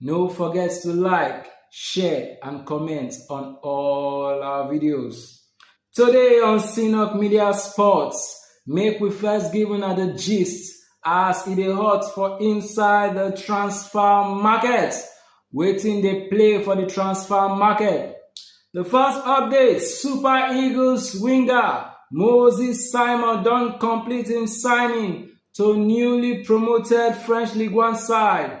No forget to like, share, and comment on all our videos. Today on Sinok Media Sports, make we first give una the gist as e dey hot for inside the transfer market. Waiting dey play for the transfer market. The first update Super Eagles winger Moses Simon don complete im signing to newly promoted French Ligue 1 side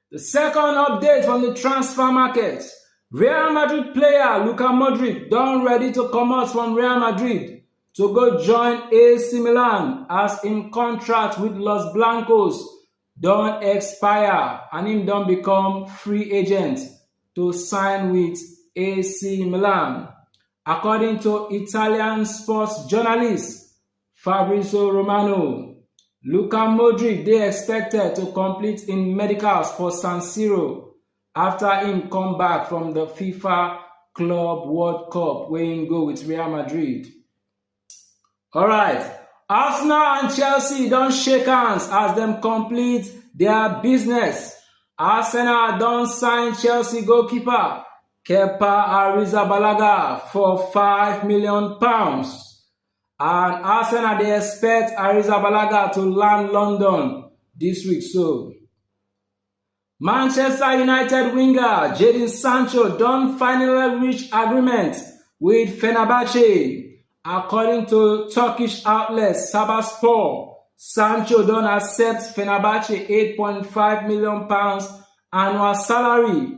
The second update from the transfer market. Real Madrid player Luka Modric don ready to comot from Real Madrid to go join AC Milan as im contract with Los Blancos don expire and im don become free agent to sign with AC Milan. According to Italian sports journalist Fabrizio Romano. Luka Modric dey expected to complete im medicals for San Siro after im come back from the FIFA Club World Cup wey im go with Real Madrid. Alright, Arsenal and Chelsea don shake hands as dem complete their business. Arsenal don sign Chelsea goalkeeper Kepa Arrizabalaga for five million pounds. And Arsenal dey expect Arrizabalaga to land London dis week so. Manchester United winger Jadon Sancho don finally reach agreement with Fenerbahce. According to Turkish outlet Sabaspor, Sancho don accept Fenerbahce £8.5 million annual salary